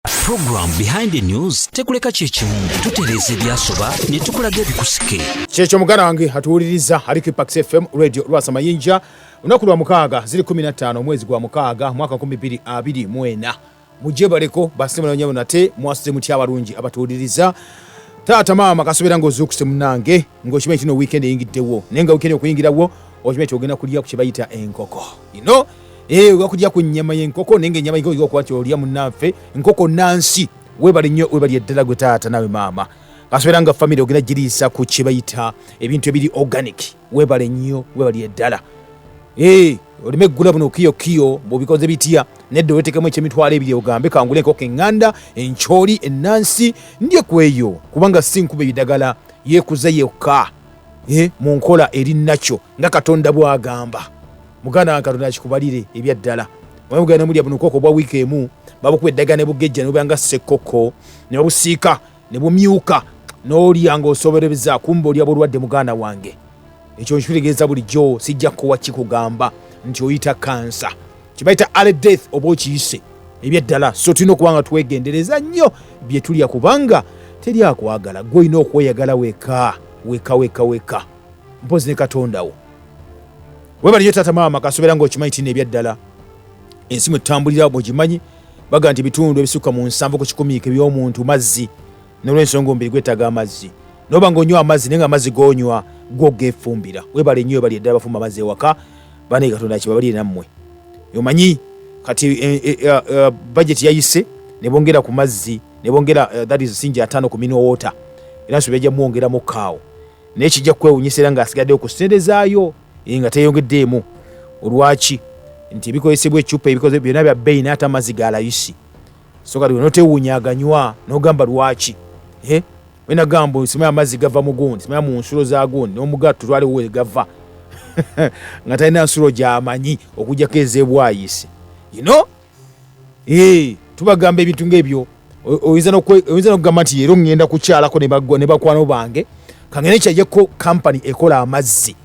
Program behind the news tekuleka kyekimu tutereeza ebyasoba ne tukulaga ebikusike kyekyo muganda wange atuwuliriza ali ku pax fm radio lwasa mayinja lunaku lwa mukaaga ziri 15 omwezi gwa mukaaga mwaka 224 mwena mujebaleko basimulanyabo nate mwasuze mutya abalungi abatuwuliriza taata maama kasobera ngaozuukuse munange ngaokimanyi tino wiikendi eyingiddewo naye nga wiikendi okuyingirawo okimanyi ti ogenda kulya ku kye bayita enkoko you know eh oba kulya ku nyama ye nkoko nenge nyama yiko yiko kwacho olya munafe nkoko nansi webali nyo webali edela gutata nawe mama kaswera nga family ogina jilisa ku chibayita ebintu ebili organic webali nyo webali edela eh olime gula buno kiyo kiyo bobikoze bitia nedde wetekemu ekyemitwalo ebiri ogambe kangule enkoko eŋŋanda enkyoli ennansi ndye kweyo kubanga si nkuba ebidagala yekuza yekka e, mu nkola eri nakyo nga katonda bw'agamba muganda wange katonda akikubalire ebyaddala omugenda nomulya buno koko obwa wiiki emu babukuba eddagala ne bugejja ne bubanga ssekkoko ne babusiika ne bumyuka n'olya ng'osobereza kumba olya bulwadde muganda wange ekyo nkitegeeza bulijjo sijja kuwa kikugamba nti oyita kansa kibayita ale death oba okiyise ebyaddala so tulina okuba nga twegendereza nnyo bye tulya kubanga teri akwagala gwe olina okweyagala weka weka weka weka mpozi ne katondawo webaliyo taata maama kasobera nga okimanyi tina ebyaddala ensi mwe tutambulira bwegimanyi baga nti ebitundu ebisukka mu nsanvu ku kikumiiko ebyomuntu mazzi nolwensonga omubiri gwetaaga amazzi noba nga onywa amazzi naye nga amazzi gonywa gwo gefumbira webale nnyo webali eddala bafumba amazzi ewaka banaye katonda kibabalire nammwe omanyi kati eh, eh, eh, uh, budget yayise nebongera ku mazzi nebongera uh, that is sinja atano ku mineral water era nsobya jamuwongera mu kaawo naye kijja kukwewunyisa era ng'asigaddewo ku ssente zaayo eh, nga teyongeddeemu olwaki nti ebikozesebwa ecupa ebikoze byonna bya bbeeyi naye ate amazzi ga layisi so kati wenotewunya aganywa n'ogamba lwaki eh, wena gamba simaya amazzi gava mu gundi simaya mu nsulo za gundi n'omugatto twaliwo we gava nga talina nsulo gyamanyi okujjako ezebwayisi you know eh, tubagamba ebintu ngaebyo oyinza nokugamba nti leero ŋŋenda kukyalako ne bakwano bange kangende kyajeko kampany ekola amazzi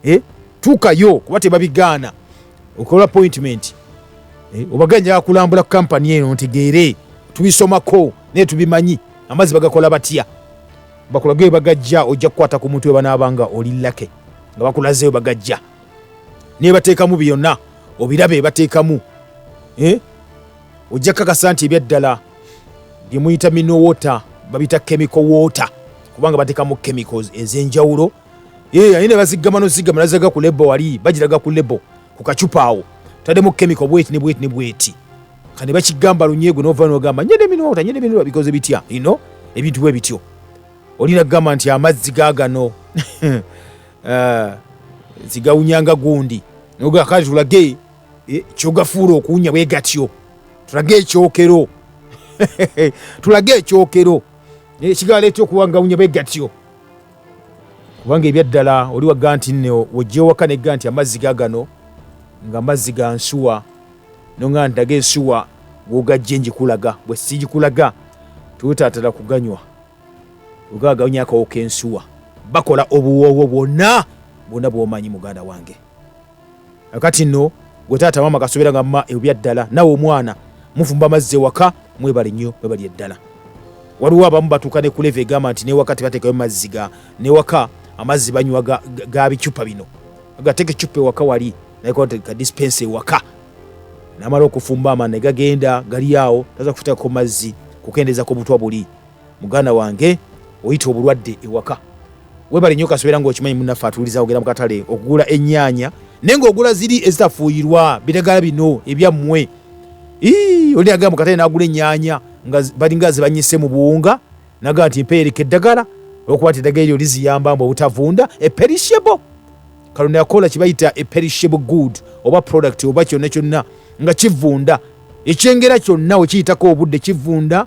eh, tuukayo kuba tebabigaana okola appointment eh, obaganja kulambula ku kampany eno ntegeere tubisomako naye tubimanyi amazzi bagakola batya bakulaga ebagajja ojja kukwata ku muntu webanaabanga oli lake nga bakulazeyo bagajja nebateekamu byonna obiraba ebateekamu eh? ojja kakasa nti ebyaddala byemuyita mino water babita chemical water kubanga bateekamu chemicals ezenjawulo eh, aye nebaziggama nozigama nazaga ku lebo wali bagiraga ku lebo ku kacupa awo tademu chemical bweti ne bweti ne bweti kane bakigamba lunyegwe nova nogamba nyede mino water nyede mino bikoze bitya you know ebintu bwe bityo olina kugamba nti amazzi gagano eh, zigawunya nga gundi noga kale tulage eh, kyogafuula okuwunya bwe gatyo tulage ekyokero tulage ekyokero ekigala eh, etya okuba ngawunya bwe gatyo kubanga ebyaddala oli wagga nti nne wojja ewaka negga nti amazzi gagano nga amazzi ga nsuwa nonga ndaga ensuwa gwogajje njikulaga bwe sigikulaga tuwetatala kuganywa ogagawunya akawo kensuwa bakola obuwoowo bwonna bwonna bwomanyi muganda wange akati no gwe taata maama kasubira nga ma ebya ddala nawe omwana mufumba amazzi ewaka mwebale nnyo mwebali eddala waliwo abamu batuuka ne kuleva egamba nti newaka tebatekayo mazzi ga newaka amazzi banywa ga, ga, ga bicupa bino agateka ecupa ewaka wali nayekoka dispense ewaka namala okufumba amana negagenda gali awo taza kufutakako mazzi kukendezako butwa buli muganda wange oyita obulwadde ewaka webale nyo kasubera nga okimanyi munaffe atuuliza ogenda mukatale okugula enyaanya naye nga ogula ziri ezitafuuyirwa bitagala bino ebyammwe oli agamba mukatale nagula enyaanya nga balinga zibanyise mu buwunga naga nti mpeereka eddagala olwokuba nti eddagala eryo liziyamba mbu obutavunda eperishable kalonda yakola kibayita eperishable good oba product oba kyonna kyonna nga kivunda ekyengera kyonna wekiyitako obudde kivunda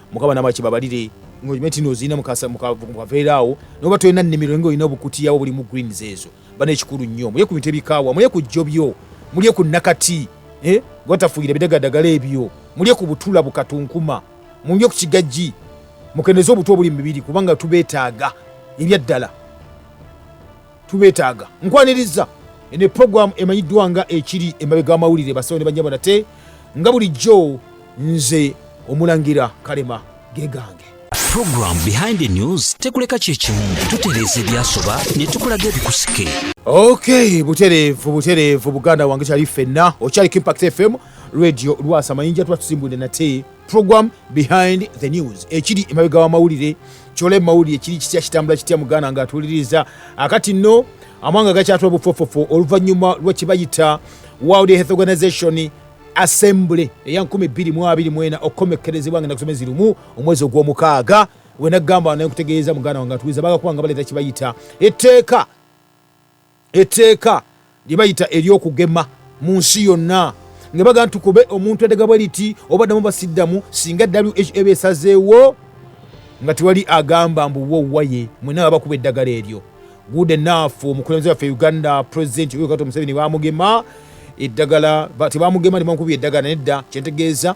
mukama namala kibabalire ngaolimeti nozirina mukaveera awo noba tolina nnimiro nga olina obukutiyawo bulimu greens ezo bana ekikulu nnyo mulye ku bintu ebikaawa mulye ku jjo byo mulye ku nakati eh? gwatafuuyira bidagadagala ebyo mulye ku butula bukatunkuma mulye ku kigajji mukendeze obutwa obuli mu mibiri kubanga tubeetaaga ebyaddala tubetaaga nkwaniriza ene program emanyiddwa nga ekiri emabega amawulire basawo ne banyabo nate nga bulijjo nze omulangira kalema gegange program behind the news tekuleka kyekimu tutereeza ebyasoba ne tukulaga ebikusike ok butereevu butereevu buganda wange kyali ffenna okyaliko impact fm radio lwasa mayinja tuba tusimbudde nate program behind the news ekiri emabega wamawulire kyola emawulire kiri kitya kitambula kitya muganda nga atuwuliriza akati nno amawanga gakyatula bufofofo oluvannyuma lwekibayita world health organization assembly eya 224 okukomekkerezebwa nga nakusomezi lumu omwezi ogw'omukaaga wenagamba naye nkutegeeza muganda wange atuwuliza bagakuba nga baleeta kibayita etteeka etteeka lye bayita ery'okugema mu nsi yonna nga baga nti kube omuntu edaga bwe liti oba ddamu basiddamu singa who eba esazeewo nga tewali agamba mbu wowaye mwena baba kuba eddagala eryo good enough omukulembeze waffe uganda president yoweri kaguta museveni bamugema eddagala tebamugema nebamukuba eddagala nedda kyentegeeza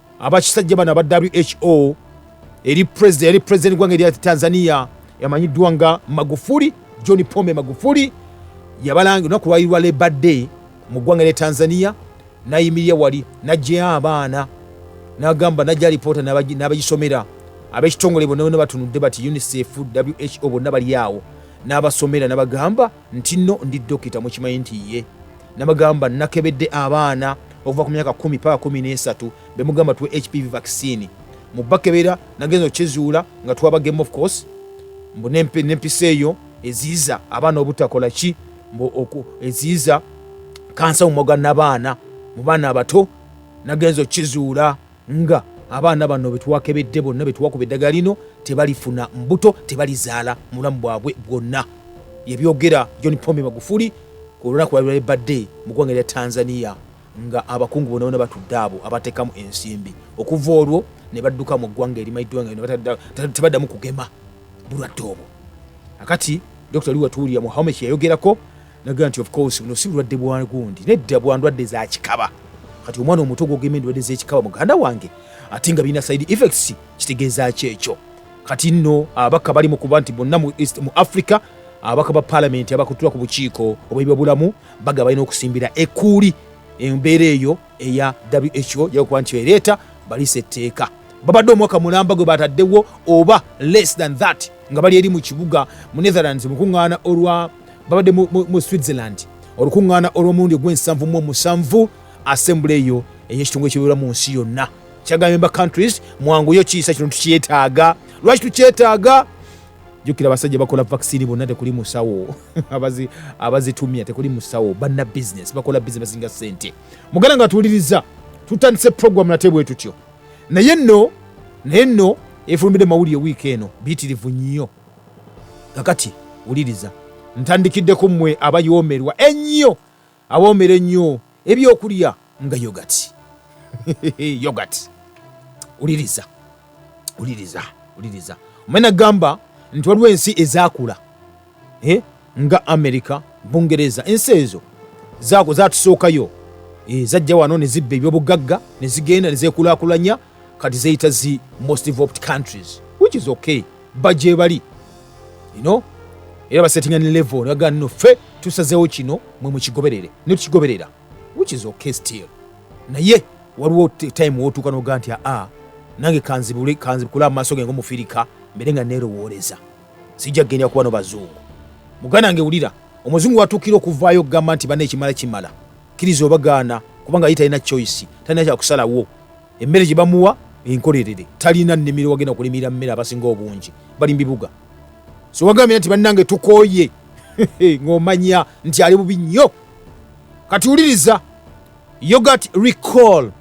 abakisajja bano aba who eri president yali president gwange erya tanzania yamanyiddwa nga magufuli john pombe magufuli yabalanga olunaku lwali lwa leba day mu ggwanga lya tanzania nayimirira wali najjayo abaana nagamba najja alipoota n'abagisomera ab'ekitongole bonna bonna batunudde bati unicef who bonna bali awo n'abasomera nabagamba ntinno ndi dokita mukimanyi nti ye namagamba nakebedde abaana okuva ku myaka kumi paka kumi nesatu bemugamba tuwe hpv vaccine mubakebera nagenza okyezuula nga twaba game of course mbu nempisa eyo eziiza abaana obutakola ki mbu eziiza kansa mumwa gwa nabaana mu baana abato nagenza okkizuula nga abaana bano betwakebedde bonna betwakuba eddagala lino tebalifuna mbuto tebalizaala mubulamu bwabwe bwonna yebyogera john pombe magufuli ku olunaku lwalibale badde mu ggwanga lya tanzania nga abakungu bona bona batudde abo abatekamu ensimbi okuva olwo ne badduka mu ggwanga erimayiddwa nga tebaddamu kugema bulwadde obwo akati dr liwatuulira muhamed yayogerako naga nti of course buno si bulwadde bwa gundi nedda bwa ndwadde za kikaba kati omwana omuto gwogema endwadde z'ekikaba muganda wange ate nga birina side effects kitegeeza ki ekyo kati nno abaka bali mu kuba nti bonna mu east mu africa abaka ba palamenti abakutula ku bukiiko obwebibabulamu baga balina okusimbira ekuuli embeera eyo eya who yakuba nti ereeta balisa etteeka babadde omwaka mulamba gwe bataddewo oba less than that nga bali eri mu kibuga mu netherlands mukuŋŋaana olwa babadde mu switzerland olukuŋŋaana olw'omulundi ogw'ensanvu mu omusanvu assembly eyo ey'ekitongole ekibeera mu nsi yonna kyagambye ba countries mwanguyo kiyisa kino tukyetaaga lwaki tukyetaaga jukira abasajja bakola vaccine bonna tekuli musawo abazi abazitumya tekuli musawo banna business bakola business basinga sente muganda nga tuwuliriza tutandise program nate bwe tutyo naye nno naye nno efulumbidde mawulire wiiki eno biyitirivu nnyo kakati wuliriza ntandikiddeko mmwe abayoomerwa ennyo Awoomera ennyo ebyokulya nga yogati. Yogati. Uliriza. Uliriza. Uliriza. Omena gamba nti waliwo ensi ezakula eh? nga Amerika, Bungereza, ensi ezo zatusookayo eh, zajja wano ne zibba ebyobugagga ne zigenda ne zekulakulanya kati zeyita zi most developed countries which is okay bajebali you know era basettinga ne level naga no fe tusazewo kino mwe mukigoberere ne tukigoberera which is okay still naye waliwo time wotuuka noga nti aa nange kanzibule kanzibukule amaaso genge omufirika mbere nga nerowooleza sijja kugenda kuba no bazungu muganda nge wulira omuzungu watuukira okuvaayo okugamba nti bana ekimala kimala kkiriza oba gaana kubanga ye talina choice talina kyakusalawo emmere gye bamuwa enkolerere talina nnimiro wagenda kulimira mmere abasinga obungi bali mu bibuga so wagambye nti bannange tukooye ng'omanya nti ali bubi nnyo kati wuliriza yogat recall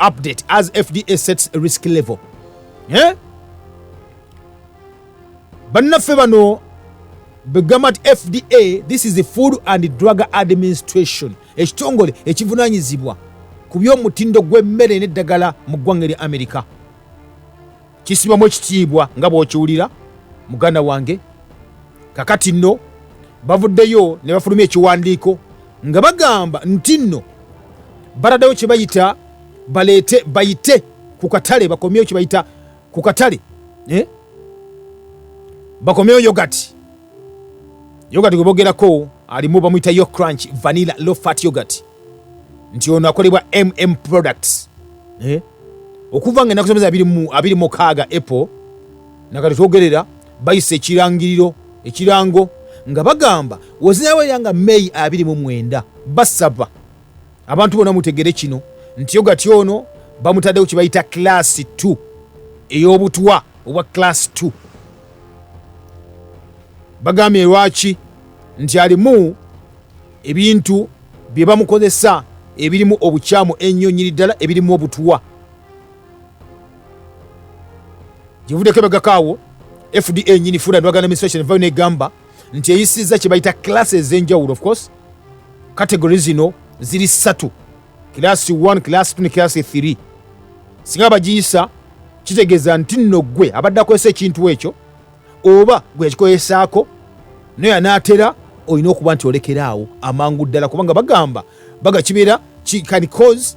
update as fda sets risk level eh? bannaffe bano begamba nti fda this is the food and drug administration ekitongole ekivunanyizibwa ku by'omutindo gw'emmere n'eddagala mu ggwanga erya amerika kisibamu ekitiibwa nga bw'okiwulira muganda wange kakati nno bavuddeyo ne bafulumya ekiwandiiko nga bagamba nti nno baraddewo kye bayita baleete bayite ku katale bakomyewo kye bayita ku katale eh? bakomeyo yogati yogati gwe bogerako alimu bamuyita yo crunch vanilla low fat yogati nti ono akolebwa mm products eh? okuva nga enaku zomeza abiri mukaaga apple nakati twogerera bayisa ekirangiriro ekirango nga bagamba wozinawerera nga may abiri mu mwenda basaba abantu bona mutegere kino nti ogati ono bamutaddewo kibayita class 2 ey'obutwa obwa class 2 bagambye lwaki nti alimu ebintu bye bamukozesa ebirimu obukyamu ennyo nyini ddala ebirimu obutwa gyevuddeko ebagakaawo fda nyini food and organization vayo negamba nti eyisizza kye bayita kilasi ez'enjawulo of course kategori zino ziri ssatu kilasi 1 kilasi 2 ne kilasi 3 singa bagiyisa kitegeeza nti nno ggwe abadde akozesa ekintu ekyo oba gwe yakikozesaako naye anaatera olina okuba nti olekera awo amangu ddala kubanga bagamba baga kibeera can cause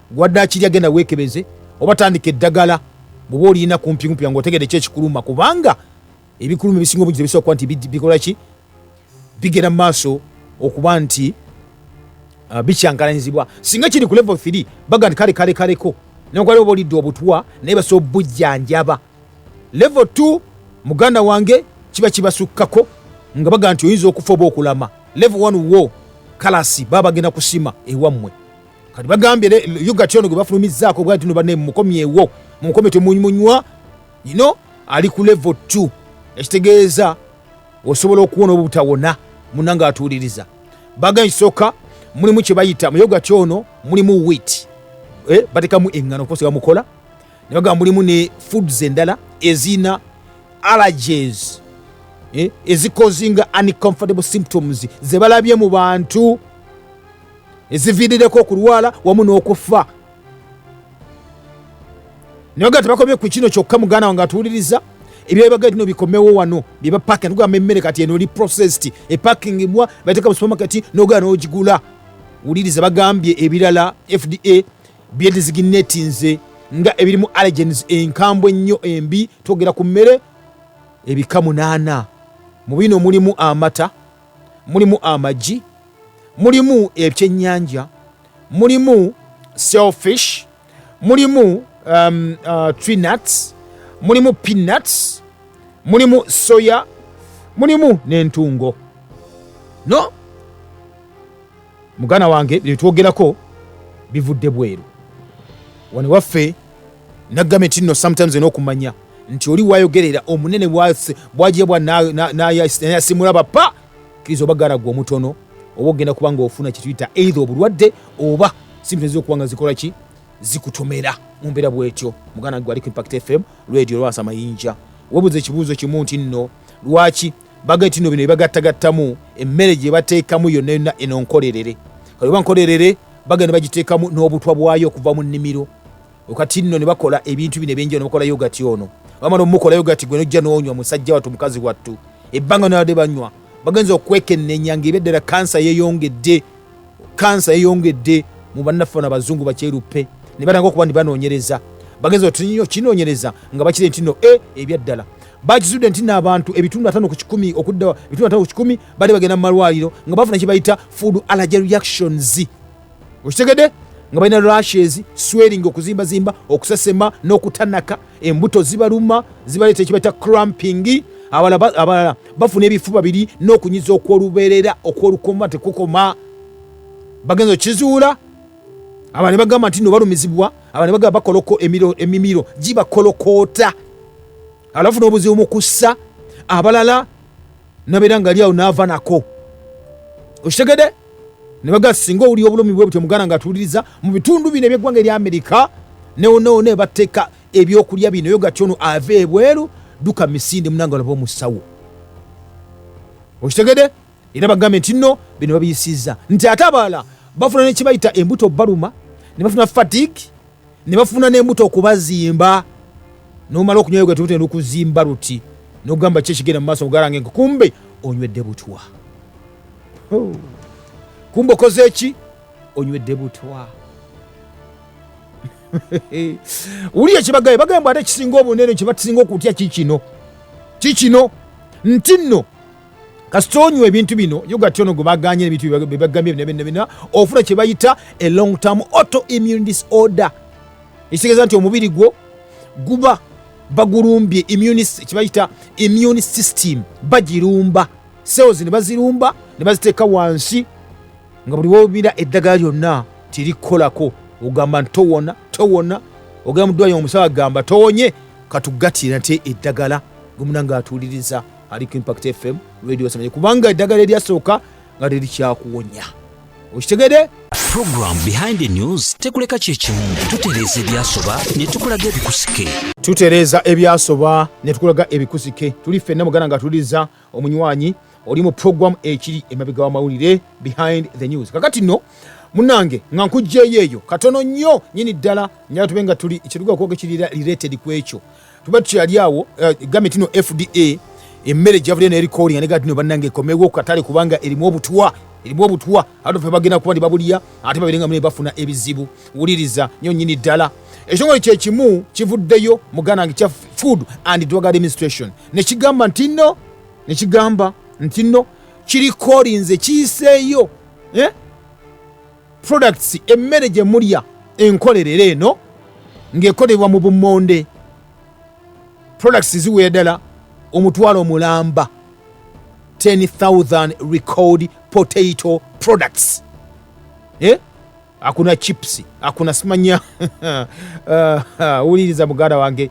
Gwadde akirya genda weekebeze oba tandika eddagala bwoba olina kumpikumpi nga otegede ki ekikuluma kubanga ebikuluma ebisinga obungi tebisobola kuba nti bikola ki bigenda mu maaso okuba nti uh, bikyankalanyizibwa singa kiri ku level 3 baga nti kale kale kaleko newakubali oba olidde obutwa naye basobola obujjanjaba level 2 muganda wange kiba kibasukkako nga baga nti oyinza okufa oba okulama level 1 wo kalasi baba bagenda kusima ewammwe kati bagambye yogati ono gwe bafulumizzaako bwa tino bane mumukomyewo mumukomye temunywa ino ali ku levo 2 ekitegeeza osobola okuwona obutawona muna nga atuuliriza baga ekisooka mulimu kye bayita mu yogati ono mulimu wit eh, batekamu eŋŋano okukosa bamukola ne bagamba mulimu ne foods endala ezina allergies eh, ezikozinga uncomfortable symptoms ze balabye mu bantu eziviirireko okulwala wamu n'okuffa naye nga tebakomye ku kino kyokka muganda wange atuwuliriza ebyabaga tino bikomewo wano byebapaka nogamba emmere kati eno oli processed epakingibwa bateka mu supermarket nogana nogigula wuliriza bagambye ebirala fda byediziginetinze nga ebirimu allegens enkambwe ennyo embi twogera ku mmere ebika munaana mu bino mulimu amata mulimu amagi mulimu ebyennyanja mulimu selfish mulimu um, uh, trinuts mulimu peanuts mulimu soya mulimu n'entungo no mugana wange byetwogerako bivudde bweru wano waffe naggame tinno sometimes olina okumanya nti oli wayogerera omunene bwajebwa nayasimula bapa kiriza oba garagwa omutono oba ogenda kuba nga ofuna kyetuyita eitha obulwadde oba sibintu okuba nga zikola ki zikutomera mumbeera bwetyo muganda gwe aliko impact fm radio lwasa mayinja webuza ekibuuzo kimu nti nno lwaki bagati tino bino ebagattagattamu emmere gye bateekamu yonna yonna eno nkolerere kati oba nkolerere bagenda bagiteekamu n'obutwa bwayo okuva mu nnimiro okati nno ne bakola ebintu bino ebyenjao ne bakola yogati ono bamala omukola yogati gwe nojja n'onywa musajja wattu mukazi wattu ebbanga nabadde banywa bagenza okwekennenya ng'ebeddala kansa yeyongedde kansa yeyongedde mu bannaffe na bazungu bakyeruppe ne batanga okuba nti banoonyereza bagenza otinyo kinoonyereza nga bakire nti no e eh, ebyaddala bakizudde nti naabantu ebitundu atano ku kikumi okudda ebitundu atano ku kikumi bali bagenda mu malwaliro nga bafuna kye bayita food allergy reactions okitegedde nga balina rashes swering okuzimbazimba okusesema n'okutanaka embuto zibaluma zibaleeta ekiba kya cramping abalala bafuna ebifuba biri n'okunyiza okw'olubeerera okw'olukoma tekukoma bagenza okizuula abane bagamba nti no balumizibwa abane bagamba bakoloko emiro emimiro gibakolokoota alafu n'obuzibu mu kussa abalala nabeera nga ali awo naava nako okitegede ne bagamba singa owulira obulumi bwe butyo muganda nga atuwuliriza mu bitundu bino ebyeggwanga erya amerika newoneone ebateeka ebyokulya bino yo gati ono ava ebweru duka misinde munanga olaba omusawo okitegede era bagambe nti no bino babiyisiza nti ate abalala bafuna nekibayita embuto baluma ne bafuna fatig ne bafuna n'embuto okubazimba nomala okunywayo gatutenda okuzimba luti nogamba ki ekigenda mu maaso ogalange nti kumbe onywedde butwa oh. kumbe okoze eki onywedde butwa wuli ekibagaye bagamba ate ekisinga obunene kyebakisinga okutya kikino kikino nti nno kasita onywa ebintu bino yogati ono gwe baganye ebintu byebagambye bina bina bina ofuna kye bayita a long term auto immune disorder ekitegeeza nti omubiri gwo guba bagulumbye kyebayita immune system bagirumba cells ne bazirumba ne baziteeka wansi nga buli wobira eddagala lyonna tirikukolako ogamba nti towona towona ogenda mudwayo omusawo agamba towonye katugatira nti eddagala gwemunanga atuuliriza ali ku impact fm radio samanye kubanga eddagala eryasooka nga terikyakuwonya okitegede program behind the news tekuleka kyekimu tutereeza ebyasoba netukulaga ebikusike tutereeza ebyasoba netukulaga ebikusike tuli ffenna mugana nga tuliza omunywanyi oli mu program ekiri emabega wamawulire behind the news kakati no munange nga nkugjeyo eyo katono nnyo nyini ddala nyala tube nga tuli ekiruga okwoga ekirira related ku ekyo tuba tukyali awo eh, gambe tino fda emmere gyavudde naye recording anega tino bannange ekomewo katale kubanga erimu obutwa erimu obutwa ate fe bagenda kuba nti babulya ate babirenga mune bafuna ebizibu wuliriza nyo nyini ddala ekitongole kyekimu kivuddeyo muganange kya food and drug administration nekigamba nti no nekigamba nti no kirikolinze kiyiseeyo eh? products emmere gye mulya enkolerere eno ng'ekolebwa mu bummonde products ziwera ddala omutwalo mulamba 10000 record potato products eh? akuna chips akuna simanya uh, wuliriza muganda wange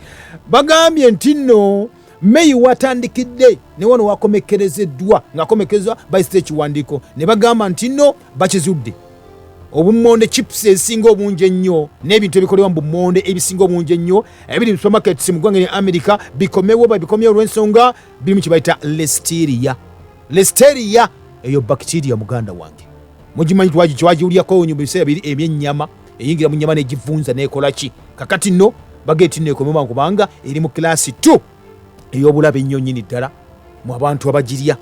bagambye nti nno meyi watandikidde ne wano wakomekerezeddwa ng'akomekerezebwa bayisita ekiwandiiko ne bagamba nti nno bakizudde obummonde chips ezisinga obungi ennyo n'ebintu ebikolewa mu bummonde ebisinga obungi ennyo ebiri mu supermarkets mu ggwanga lya america bikomewo babikomyewo olw'ensonga birimu kye bayita lesteria lesteria eyo bacteria muganda wange mugimanyi twagiwulyako nyo mu biseera biri ebyennyama eyingira mu nyama n'egivunza n'ekola ki kakati nno bageti nno ekomewa kubanga eri mu kilaasi 2 ey'obulabe ennyo nnyini ddala mu abantu abagirya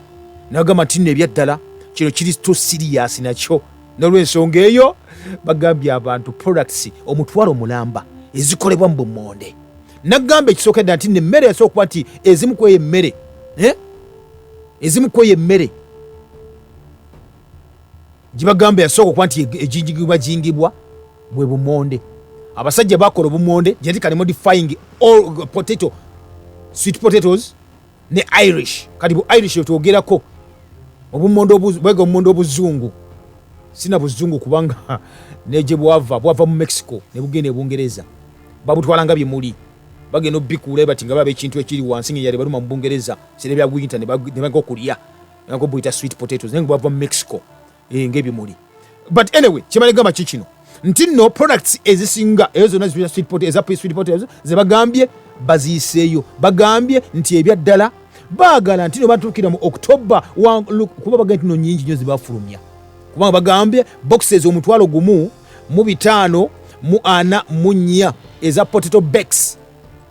nagamba nti nno ebyaddala kino kiri to siriyasi nakyo nolwensonga eyo bagambye abantu products omutwalo mulamba ezikolebwa mu bumonde nagamba ekisooka ddala nti nemmere yasobola okuba nti ezimu kweyo emmere eh? ezimu kweyo emmere gibagamba yasooka okuba nti ejingibwa jingibwa bwe bumonde abasajja bakola obumonde jati kali modifying all potato sweet potatoes ne irish kati bu irish yetwogerako obumonde bwega obumonde obuzungu sina buzungu kubanga neje bwava bwava mu mexico ne bugenda ebungereza babutwalanga bye muli bagenda obikuula ebati nga baba ekintu ekiri wansi ngeyali baluma mu bungereza sire bya gwinta ne baga okulya nako buyita sweet potatoes naye bwava mu mexico eh, ngaebimuli but anyway kyebalegamba ki kino nti no products ezisinga eyo zonna zibira sweet potatoes eza sweet potatoes zebagambye baziyiseeyo bagambye nti ebya ddala baagala nti no batuukira mu october kuba bagambye nti no nyingi nyo zibafulumya kubanga bagambye boxes omutwalo gumu mu bitaano mu ana mu nnya eza potato backs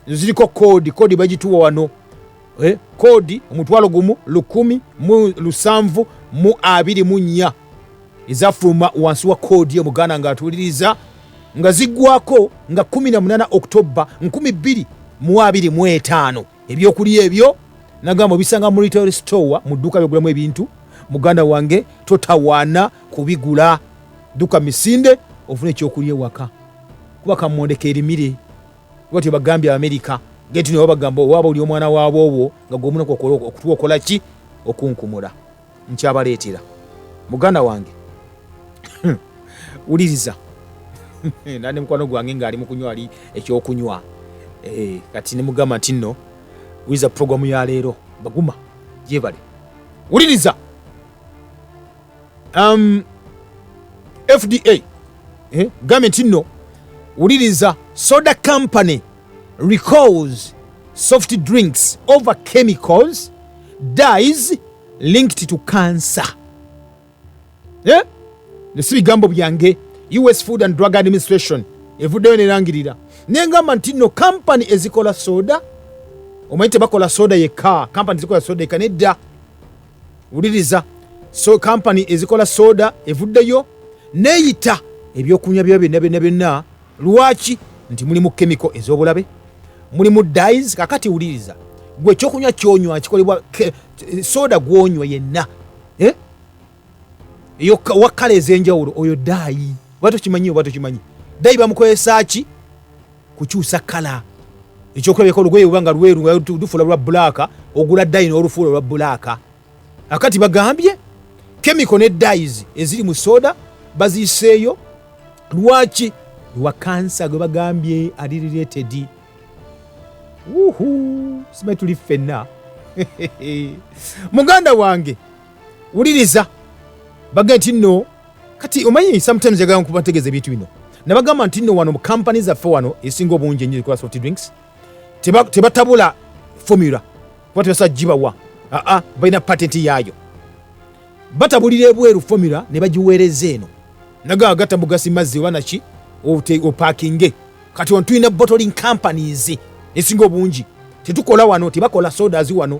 ziriko koodi koodi bagituwa wano eh, koodi omutwalo gumu lukumi mu lusanvu mu abiri mu nnya ezafuluma wansi wa koodi omuganda ng'atuuliriza nga ziggwako nga 18 okutobba 2025 ebyokulya ebyo nagamba obisanga mu retail store mu dduuka lyogulamu ebintu muganda wange totawaana kubigula dduka misinde ofuna ekyokulya ewaka kuba kamondeka erimire bwatyo bagambye abamerika genti nabo bagamba owaaba oli omwana waabwoobwo nga gwomunaku okola okutuwa okola ki okunkumula nkyabaleetera muganda wange wuliriza nane mukwano gwange ngaali mukunywa ali ekyokunywa eh, kati nemugamba nti nno wuliriza puroguramu ya leero baguma gyebale wuliriza um, fda eh? government nno wuliriza soda company recalls soft drinks over chemicals dies linked to cancer eh? nesi bigambo byange us food and drug administration evuddeyo nerangirira nengamba nti no kampani ezikola soda omanyi tebakola soda yekka kampani zikola soda yekka nedda wuliriza so kampani ezikola soda evuddeyo neyita ebyokunywa byayo byonna byonna byonna lwaki nti mulimu kemiko ez'obulabe mulimu dis kakati wuliriza gwe ekyokunywa kyonywa kikolebwa soda gwonywa yenna eh? eyo wakkala ez'enjawulo oyo daayi oba tokimanyi oba tokimanyi daayi bamukozesa ki kukyusa kala ekyokulabika olugoye uba nga lweru nga lufula lwa bulaaka ogula dayi n'olufuula olwa bulaaka akati bagambye kemiko ne dayis eziri mu soda baziiseeyo lwaki lwa kansa gwe bagambye ali riretedi uhu simanyi tuli ffenna muganda wange wuliriza baga nti nno kati omanyi sometimes yagala nkuba ntegeeza ebintu bino nabagamba nti nno wano mu kampani zaffe wano esinga obungi enyo zikola soft drinks tebatabula formula kuba tebasobola gibawa aa balina patenti yaayo batabulira ebweru formula ne bagiweereza eno nagaa gatta mugasi mazzi oba naki opakinge kati wano tulina bottling companies esinga obungi tetukola wano tebakola sodas wano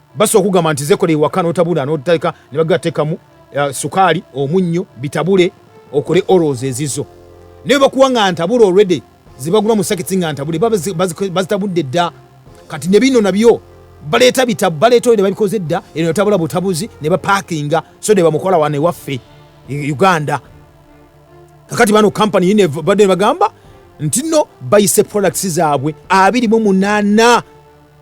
Basi okugamba nti zekola ewaka notabula notalika nebagga tekamu uh, eh, sukali omunnyo bitabule okole oros ezizo naye bakuwa nga ntabula already zebagula musakiti nga ntabule bazitabudde dda kati nebino nabyo baleeta bitabu baleeta oyo nebabikoze dda eno natabula butabuzi nebapakinga so nebamukola wana ewaffe e, uganda kakati bano kampani yine badde nebagamba ntino bayise products zaabwe abiri mu munana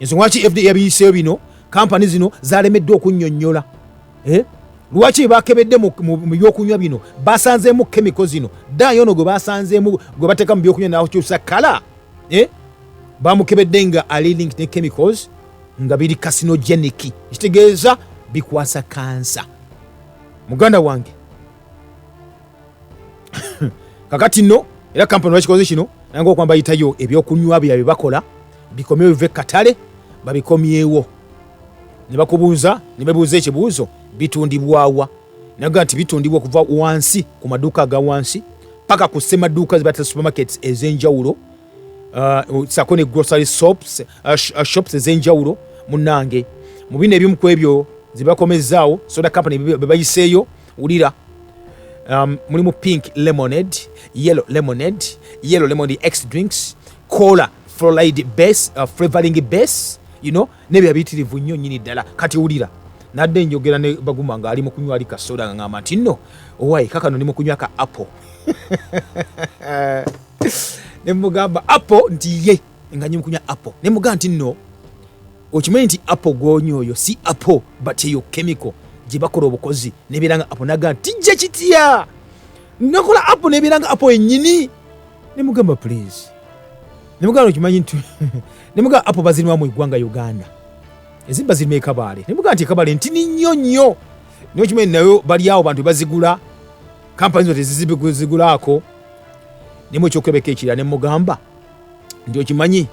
ensonga lwaki fda yabiyiseeyo bino kampani zino zalemeddwa okunnyonnyola eh? lwaki bakebedde mu byokunywa bino basanzeemu kemiko zino daayo ono gwe basanzeemu gwe bateeka mu byokunywa nakyusa kala eh? bamukebedde nga alilink ne chemicals nga biri kasinogenic ekitegeeza bikwasa kansa muganda wange kakati no era kampani bakikoze kino nanga okuba bayitayo ebyokunywa byabye bakola bikomyewo bive katale babikomyewo ne bakubuuza ne bebuuza ekibuuzo bitundibwawa naga nti bitundibwa okuva wansi ku maduuka aga wansi paka ku semaduuka zebatera supermarkets ez'enjawulo uh, sako ne grocery shops, uh, uh, shops ez'enjawulo munange mu bino ebimu ku ebyo zebakomezaawo soda company bebayiseeyo wulira um, mulimu pink lemonade yellow lemonade yellow lemonade x drinks cola floride base uh, flavoring base you know nebya bitirivu nnyo nyini ddala kati wulira nadde njogera ne baguma nga ali mu kunywa ali kasoda nga ngamba nti nno owaye kakano ndi mu kunywa ka apple ne mugamba apple nti ye nga nyimu kunywa apple ne muga nti no okimanyi nti apple gwonya oyo si apple but eyo chemical gye bakola obukozi nebeera nga apple naga nti jja kitya nakola apple nebeera nga apple enyini ne mugamba please ne mugamba okimanyi nti ne mugamba apple bazirimu mu eggwanga uganda ezimu bazirimu ekabaale ne mugamba nti ekabaale ntini nnyo nnyo naye okimanyi nayo bali awo bantu bazigula kampani zo tezizigulaako nemwe ekyokulabeka ekirala ne mugamba nti okimanyi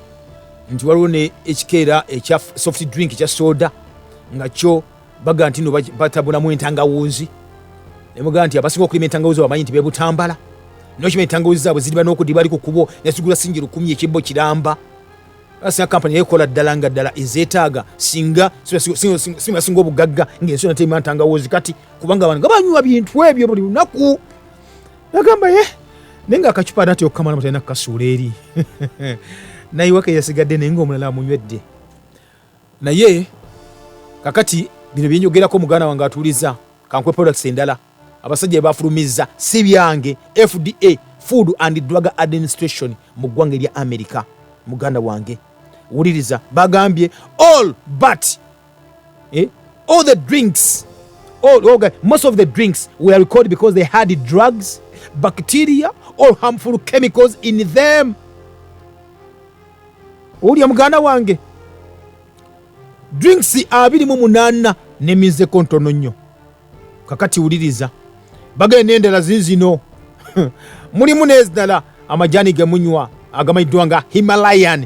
nti waliwo ne ekikeera ekya soft drink ekya soda nga kyo baga nti no batabunamu entangawuunzi nemuga nti abasinga okulima entangawuunzi bamanyi nti bebutambala nokima entangawuunzi zaabwe ziriba n'okudiba ali ku kubo nesigula singi lukumi ekibbo kiramba asinga kampani yekola ddala nga ddala ezeetaaga singa singa singa obugagga ng'ensi nateima ntangawuunzi kati kubanga abantu nga banywa bintu ebyo buli lunaku nagamba ye naye nga akacupa nati okukamala mutalina kukasuula eri naye waka yasigadde naye ngaomulala amunywedde naye kakati bino byenjogerako muganda wange atuuliza kankwe products endala abasajja bebafulumizza si byange fda food and drug administration mu ggwanga erya america muganda wange wuliriza bagambye all but eh? all the drinks all, all, most of the drinks were recalled because they had drugs bacteria or harmful chemicals in them olya muganda wange drinks abiri mu munaana neminzeko ntono nnyo kakati wuliriza bagenda endala zizino mulimu n'ezdala amajaani gemunywa agamanyiddwa nga himalayan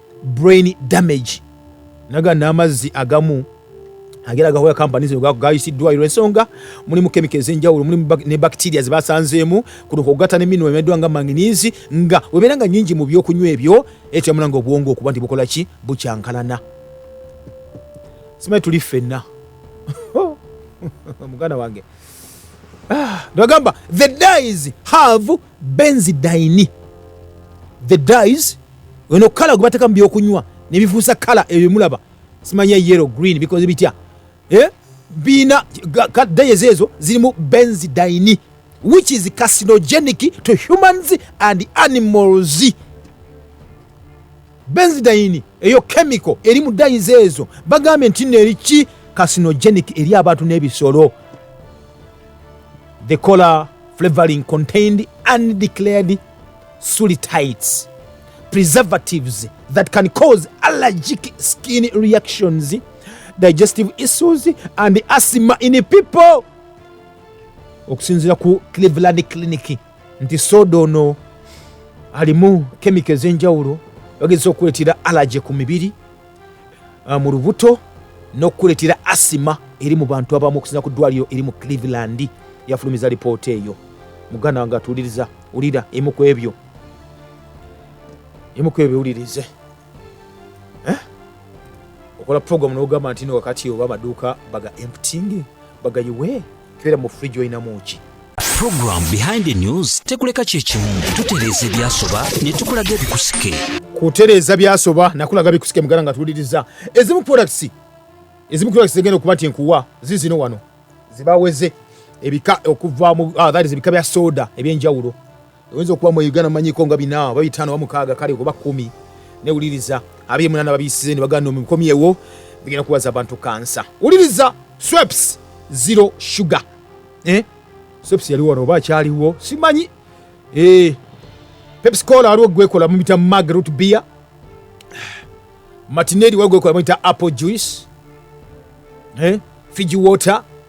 brain damage naga n'amazzi agamu agera gahoya kampani zino gayisiddwayo ensonga mulimu kemika ez'enjawulo mulimu ne bakitiria zebasanzeemu kuno kugata ne minu emeddwa nga manginiizi nga webeera nga nyingi mu byokunywa ebyo etyamula nga obwongo okuba nti bukola ki bukyankalana simanyi tuli ffenna muganda wange ah, nagamba the dies have benzi daini the dies weno kala gubateka mu byokunywa nebifuusa kala ebyo mulaba simanya yellow green bikoze bitya eh? biina dayes ezo zirimu benzi daini which is carcinogenic to humans and animals Benzidayini, eyo kemiko eri mu dayizi ezo, bagambye nti nno eri ki carcinogenic eri abantu n'ebisolo. The cola flavoring contained undeclared sulitites, preservatives that can cause allergic skin reactions, digestive issues and asthma in people. Okusinzira ku Cleveland Clinic. nti soda ono alimu kemiko ez'enjawulo bagezesa okukuleetera alaje ku mibiri ah, mu lubuto n'okukuleetera asima eri mu bantu abamu okusinza ku ddwaliro eri mu cleveland yafulumiza lipoota eyo muganda wange atuuliriza wulira emu ku ebyo emu ku ebyo biwulirize eh? okola program nogamba nti no wakati oba amaduuka baga emptingi bagayiwe kibera mu fridge oyina muki program behind the news tekuleka kyekimu tutereeza ebyasoba ne tukulaga ebikusike kutereeza byasoba nakulaga bikusike mugala nga tuwuliriza ezimu products ezimu products zegenda okuba nti nkuwa zizino wano zibaweze ebika okuva mu ah, ebika bya soda ebyenjawulo oyinza okuba mu uganda manyiko nga bina oba bitano oba mukaaga kale oba kumi newuliriza abiri munana babiyisize ne baganda omukomyewo bigenda kuwaza abantu kansa wuliriza sweps zero sugar eh? sweps yaliwo wano oba akyaliwo simanyi eh. pepsicola waliwo gwekola mumita magrut beer matineri waliwo gwekola mumita apple juice eh? fiji water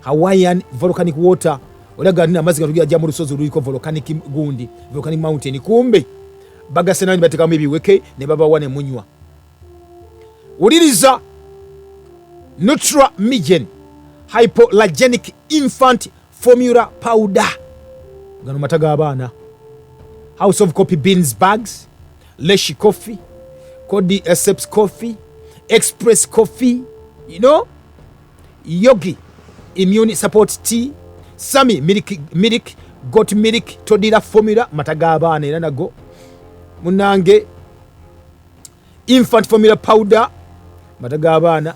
Hawaiian volcanic water olaga nina amazzi gatugira ja mu lusozi luliko volcanic gundi volcanic mountain kumbe bagase nani batekamu ebiweke ne babawa ne munywa wuliriza nutra migen hypolagenic infant formula powder gano mata g'abaana house of coffee beans bags leshi coffee codi esseps coffee express coffee you know Yogi immune support tea, Sami milk milk got milk todira formula mata g'abaana era nago munange infant formula powder mata g'abaana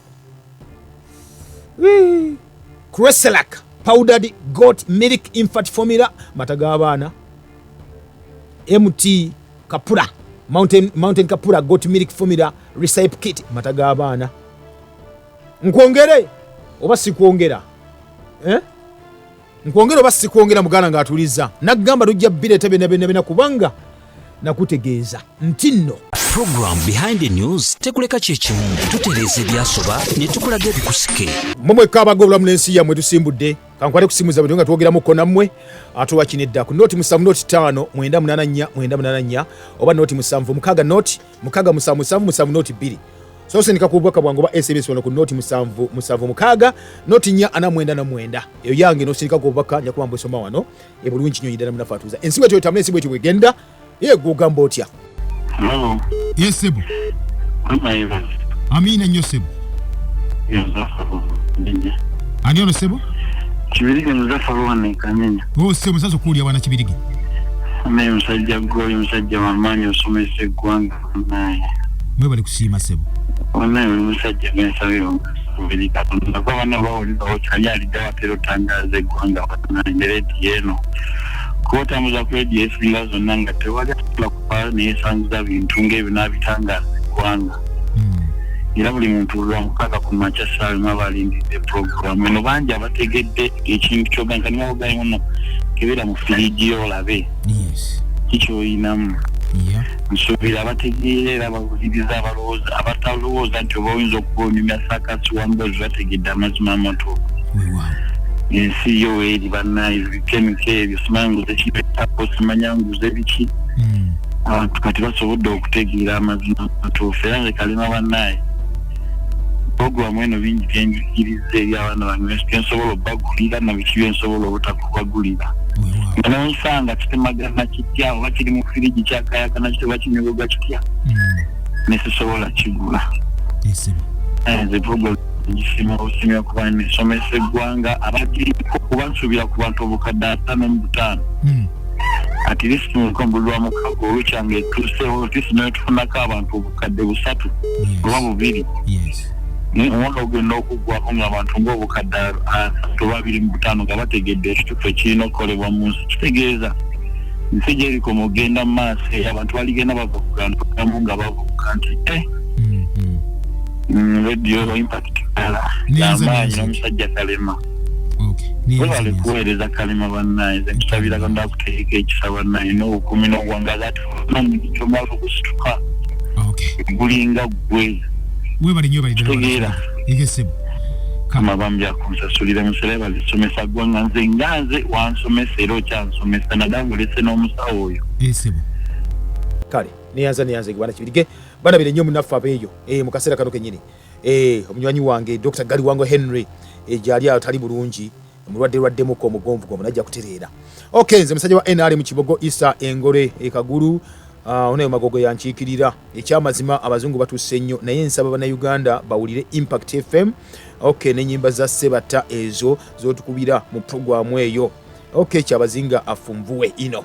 Creselac powdered goat milk infant formula mata g'abaana MT kapura mountain, mountain kapura goat milk formula recipe kit mata g'abaana nkwongere oba sikwongera eh? nkwongere oba sikwongera muganda ng'atuliza naggamba tujja bireeta byonna byonna byonna kubanga nakutegeeza nti nno program behind the news tekuleka kyekimu tutereeza ebyasoba ne tukulaga ebikusike mumweka abaga obulamu n'ensi yammwe tusimbudde kankwate kusimuza bwe nga twogeramuko nammwe atuwa kinedda ku noti musanvu noti ttaano mwenda munana nnya mwenda munana nnya oba noti musanvu mukaaga noti mukaga musanvu musanvu musanvu noti bbiri sosindika ku bubaka bwange oba sms wano ku noti musanvu musanvu mukaaga noti nya ana mwenda na mwenda eyo yange nosindika ku bubaka njakuba mbusoma wano ebulungi nyo yidana munafe atuuza ensi bwetyo etambula ensi bwetyo bwegenda ye gwogamba otya yes sebo amina nyo sebo ani ono sebo kibirige muzaffe olwane kanyenya o oh, se musaza okuwulira wana kibirige naye musajja goli musajja wamaanyi osomesa eggwanga naye mwebali kusiima sebo onaye oli musajja gensabira omukasubiri katonda kuba bana bawulirawo kyali alidde watera otangaza eggwanga wanaye ne rediyo eno kuba otambuza ku rediyo esinga zonna nga tewali kuba neyesangiza bintu ngaebyo nabitangaza eggwanga hmm. era buli muntu lwamukaka ku makya saawe mwaba alindidde puroguramu eno bangi abategedde ekintu kyoganka niwaogayi muno kebera mu firiji yo olabe kikyoyinamu nsuubira abategeera era abawuliriza abalowooza abatalowooza nti oba oyinza okuba onyumya sakasi wambazi bategedde amazima amatuufu ensi yo eri banaye kemiko ebyo simanyi nguze kibetapo simanya nguze biki hmm. abantu kati basobodde okutegeera amazima matuufu era ngekalima banaye programu eno bingi byenjigiriza eri abaana bange byensobola obagulira nabiki byensobola obutakubagulira nga nonsanga kitemagana kitya oba kiri mu firiji kyakayakana kiti oba kinyogoga kitya hmm. nesisobola kigula eh, ngisima busimya kuba nisomesa eggwanga abagiriko kuba nsuubira ku bantu obukadde ataano mu butaano hmm. at least mukombulwa mukago olukyanga etuusewo at least naye tufunako abantu obukadde busatu oba bubiri omwaka ogenda okuggwako ngaabantu ngaobukadde asatu oba abiri mu butaano nga bategedde ekitufu ekirina okukolebwa mu nsi kitegeeza nsi gyeriko mugenda mu maaso eyo abantu baligenda bava kugantu gamu nga bavubuka nti eh, Mm, radio impact kala Neza, amaanyi neza. n'omusajja kalema okay neza webale neza kuweereza kalema bannaye nze nkusabira katonda akuteeka ekisa bannaye n'obukumi n'obuwangazi ate omanyi kyomala okusituka okay gulinga ggwe webale nyo bali Kitegeera. ege sebo kama kama bambi akunsasulire musere balisomesa ggwanga nze nga nze wansomesa era okyansomesa nadange olese n'omusawo oyo e sebo kale neyanza neyanza egibana kibirige balabire nnyo munaffe abeeyo e, mu kaseera kano kenyini e, omunywanyi wange dr galiwango henry e, gyali atali bulungi mulwadde lwaddemuko omugonvu gomu najja kutereera ok nze musajja wa nrm kibogo isa engore ekagulu ah, onayo magogo yankiikirira ekyamazima abazungu batuuse nnyo naye nsaba bannayuganda bawulire impact fm ok nenyimba za sebatta ezo zotukubira mu puroguramu eyo ok kyabazinga afunvuwe ino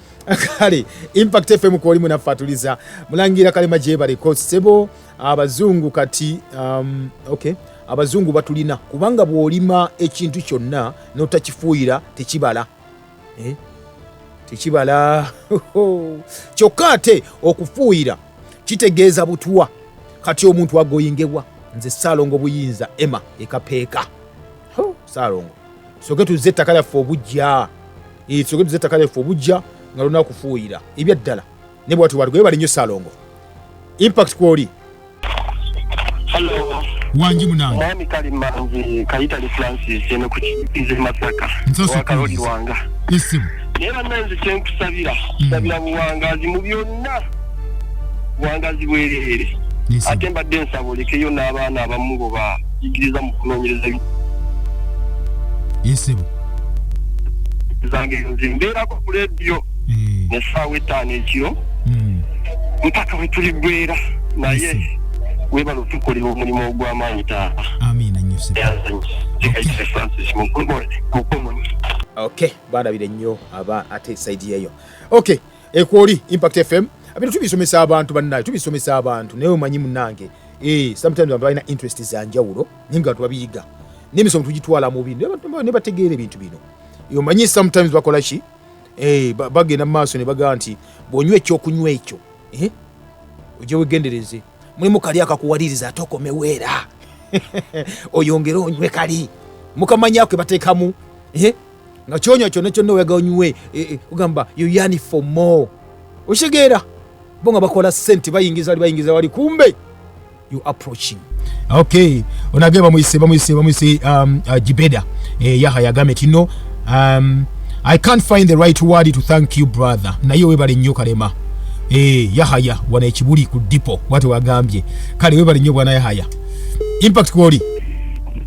kale impact fm kwoli munafatuliza mulangira kalema gyebaleko sebo abazungu kati um, okay abazungu batulina kubanga bwolima ekintu kyonna notakifuuyira tekibala eh? tekibala kyokka ate okufuuyira kitegeeza butwa kati omuntu agoyingebwa nze saalongo buyinza ema ekapeeka saalongo soke tuzze ettaka lyaffe obujja eh, soke tuzze ettaka lyaffe obujja nga lulina kufuuyira ebyaddala ne bwati bwati gwebali nnyo salongo impact kwoli wangi munange nami kali manzi kayitali francis eno kukize masaka wakaloli wanga isimu naye bananzi kyenkusabira hmm. sabira buwangazi mu byonna buwangazi bwereere ate mbadde nsaba olekeyo n'abaana abamu ngo bayigiriza mu kunoonyereza yesebo zange nze mbeerako ku lediyo eh. nesaawa etaano ekiro hmm. mpaka bwe tuli gwera naye webala otukolera omulimu ogw'amaanyi taata amiina nyo francis mukomoni ok balabire nnyo aba ate saidi yeyo ok ekwoli impact fm abino tubisomesa abantu bannaye tubisomesa abantu naye omanyi munange eh, sometimes abantu balina interest zanjawulo naye nga tubabiyiga nemisomo tugitwala mubi nebategeera ebintu bino omanyi sometimes bakola ki eh, bagenda mumaaso nebagamba nti bwonywa ekyokunywa ekyo eh, oja wegendereze mulimu kali akakuwaliriza ate okomeweera oyongere onywe kali mukamanyakwe batekamu nga kyonya kyona kyonna oyaga onywe e, e, ogamba you yani for more okitegeera bo nga bakola sente bayingiza wali bayingiza wali kumbe you approaching okay onage bamuyise bamuyise bamuyise um, uh, jibeda eh, yaha yagame tino um, i can't find the right word to thank you brother naye webale nnyo kalema eh, yahaya wana ekibuli ku dipo wati wagambye kale webale nnyo bwana yahaya impact kwoli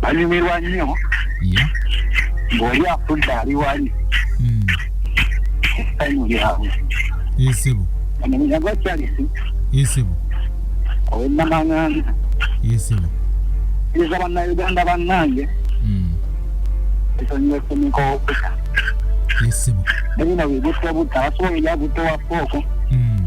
banyumirwa nnyo ng'oli afudde ali wali hmm. esanyu lyabwe esebo amanya gwa charisi esebo owenamanganda esebo iza bannauganda bannange hmm. esonyiwa efunika okusa esebo nabino bigutwa buta basobola ebyagutowa fooko hmm.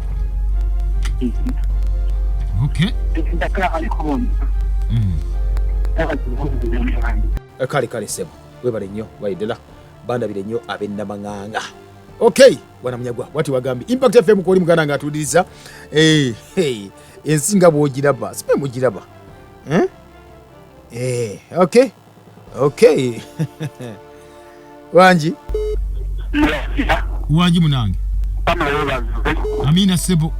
Okay. Mm. Eh, kale kale sebo webale nnyo waidela bandabire nnyo abennamang'anga okay bwana munyagwa wati wagambye impact fm kwoli muganda nga atuuliriza eh, ensi nga bwogiraba sipe mugiraba eh? okay Okay. Wanji. Wanji munange. Amina sebo.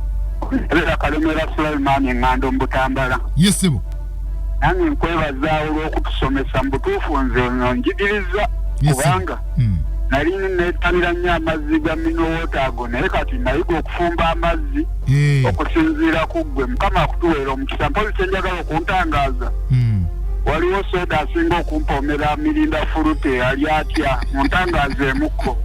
Era kalemera Sulaiman ngando mbutambala. Yes sebo. Nange nkwebaza olw'okutusomesa mu butuufu nze ono njigiriza kubanga hmm. nali neetanira nnyo amazzi ga minowoota ago naye kati nayiga okufumba amazzi eh. okusinziira ku ggwe mukama akutuweera omukisa mpozi kyenjagala kuntangaaza Mm. waliwo soda asinga okumpomera mirinda fulute ali atya muntangaaza emukko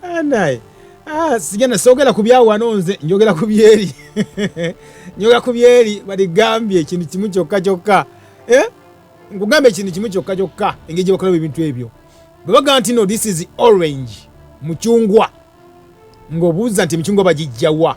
Ah, naye Ah, sijana sogera ku byawano nze njogera ku byeri njogera ku byeri baligambye ekintu kimu kyokka kyokka Eh? nkugambye ekintu kimu kyokka kyokka engeri gye bakolamu ebintu ebyo bwe bagamba nti no this is orange mucungwa ng'obuuza nti emicungwa bagijjawa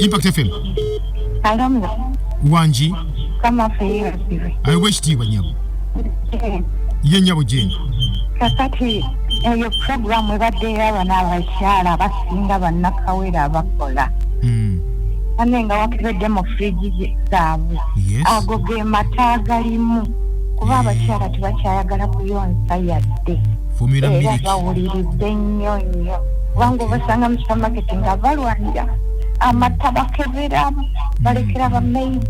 Impact FM. Alumni. Wanji. Kama feyera sivi. I wish tiwa nyabu. Eh. Ye nyabu jini. Kakati eyo eh, program ebadde y'abana abakyala abasinga bannakawere abakola hmm. ane nga wakebedde mu fridge zaabwe ago ge mata agalimu kuba eh. abakyala tebakyayagala kuyonsa yadde era bawuliridde nnyo nnyo kubanga obasanga mu gavumenti nga balwanira amata bakebera balekera bamaidi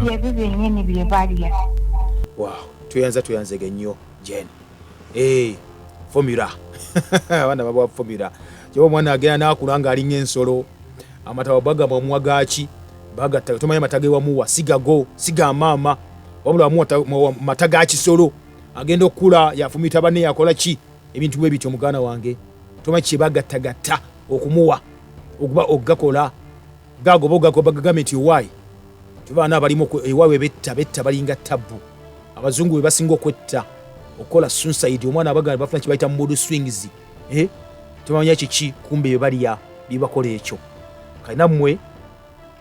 byebyo byenyini byebalya tweyanza tweyanzege nnyo jen eh, fomula abaana babawa fomula kyoba omwana agenda nakula nga alinga ensolo amata wabaga mwamwa gaki bagatta tomanya mata gewamuwa sigago siga maama wabula wamuwa mata gakisolo agenda okukula yafumita banne yakola ki ebintu bwe bityo muganda wange tomanyi kyebagattagatta okumuwa okuba okugakola gagoba ogagobagagambe nti owaayi tibaana abalimu ewaabwe betta betta balinga tabbu abazungu be basinga okwetta okukola sunsaidi omwana abaganda bafuna kibayita mubudu swings eh? tebamanya kiki kumbe bebalya bibakola ekyo kali nammwe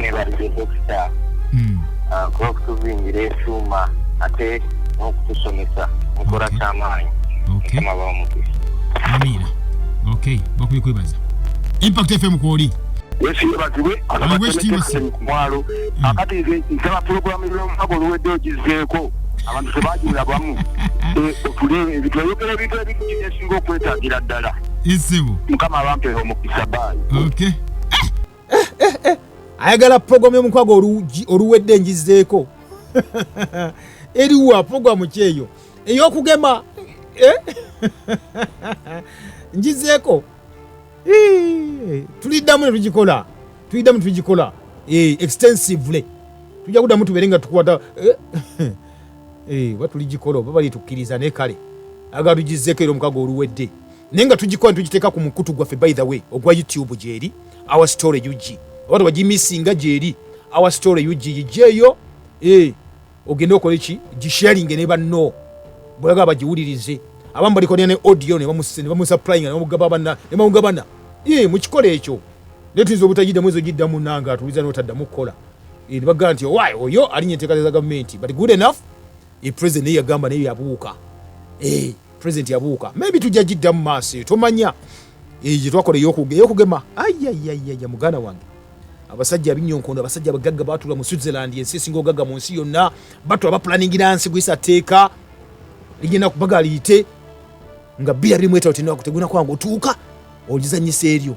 nebalire dokita hmm. ah, kuba kutuzingira ekyuma ate n'okutusomesa mukola kyamaanyi mukama bamukisa amiina ok bakubi kwebaza impact fm kwoli yesiyebazibwe aaakumwalo hmm. akati nze nsaba pulogulamu y'omukago oluwedde ogizeeko abantu tebajula bamu ebitwayogera ebintu ebintu esinga okwetagira ddala mukama abampeera omukisa baayi eh, eh, eh, eh. ayagala puroguramu y'omukwaga oluwedde enjizeeko eriwa puroguramu kyeyo ey'okugema eh? njizeeko tuliddamu ne tugikola tuliddamu tugikola eh, extensively tujja kuddamu tubeere nga tukwata eh? oba tuligikola oba balitukkiriza naye kale aga tugizeeko era omukago oluwedde naye nga tugikola netugiteeka ku mukutu gwaffe by the way ogwa youtube gyeri our story ug oba tebagimisinga gyeri our story ug yijeeyo eh, ogende okole ki gisharinge ne banno bweyagala bagiwulirize abamu balikonera ne audio nebamusaplyinga nebamugababana nebamugabana eh, mukikola ekyo naye tuyinza obutagiddamu ezo giddamu nange atuliza notaddamu kukola eh, nebagamba nti owaye oyo alinye enteekateeka za gavumenti but good enough e president naye yagamba naye yabuuka e president yabuuka maybe tujja gidda mu maaso eyo tomanya eyo gyetwakola eyokugema ayayayaya muganda wange abasajja abinyonkondo abasajja abagagga batula mu switzerland ensi esinga ogagga mu nsi yonna batula bapulaningira nsi gwisa teeka ligenda kubaga liyite nga bira birimu etalo tenakuteguna kwanga otuuka ogizanyisa eryo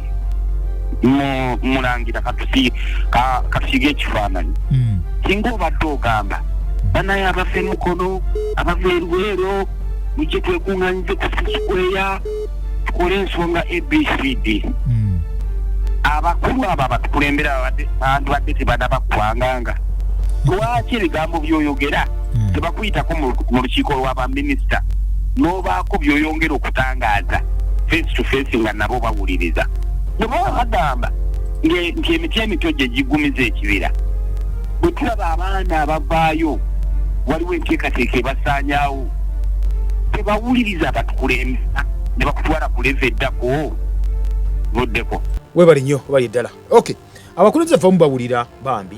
mulangira katusiige ekifaananyi hmm. singa obadde ogamba banaye abava emukono abava erweero mujje twekuŋanyize kusikweya tukole ensonga abcd hmm. abakulu abo abatukulembera bandibadde tebanabakwanganga lwaki ebigambo byoyogera hmm. tebakuyitako mu lukiiko lwa baminisita n'obaako byoyongera okutangaaza face to face nga nabo bawuliriza bwe baba bagamba nti emiti emito gye gigumiza ekibira bwe tulaba abaana abavaayo waliwo enteekateeka ebasaanyawo tebawuliriza abatukulembera ne bakutwala ku leva eddako vuddeko webali nnyo bali ddala ok abakulembeze vamu bawulira bambi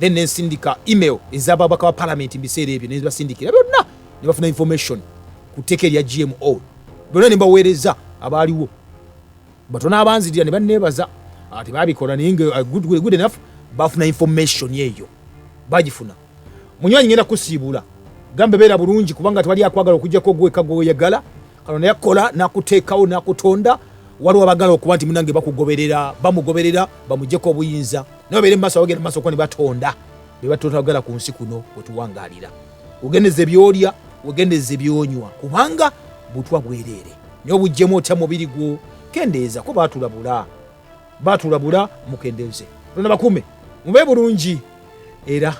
then nensindika email ezababaka ba palamenti mubiseera ebyo nebasindikira byonna nebafuna information ku tteeka erya gmo byonna nembaweereza abaaliwo batono abanzirira nebanebaza ah, tebabikola naye ah, good enough bafuna information eyo bagifuna munywanyi ngenda kusiibula gambe beera bulungi kubanga tewali akwagala okujjako gweka gwoyagala kano naye kola nakuteekawo nakutonda waliwo abagala okuba nti munange bakugoberera bamugoberera bamujeko obuyinza naye obeere mumaaso abagenda mumaaso kuba nebatonda bebatotagala ku nsi kuno wetuwangalira wegendeza ebyolya wegendeza ebyonywa kubanga butwa bwereere naye obujjemu otya mubiri gwo kendeeza ko batulabula batulabula mukendenze lona bakume mube bulungi era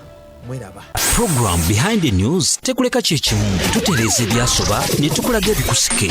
mweraba program behind the news tekuleka kyekimu tutereeza ebyasoba ne tukulaga ebikusike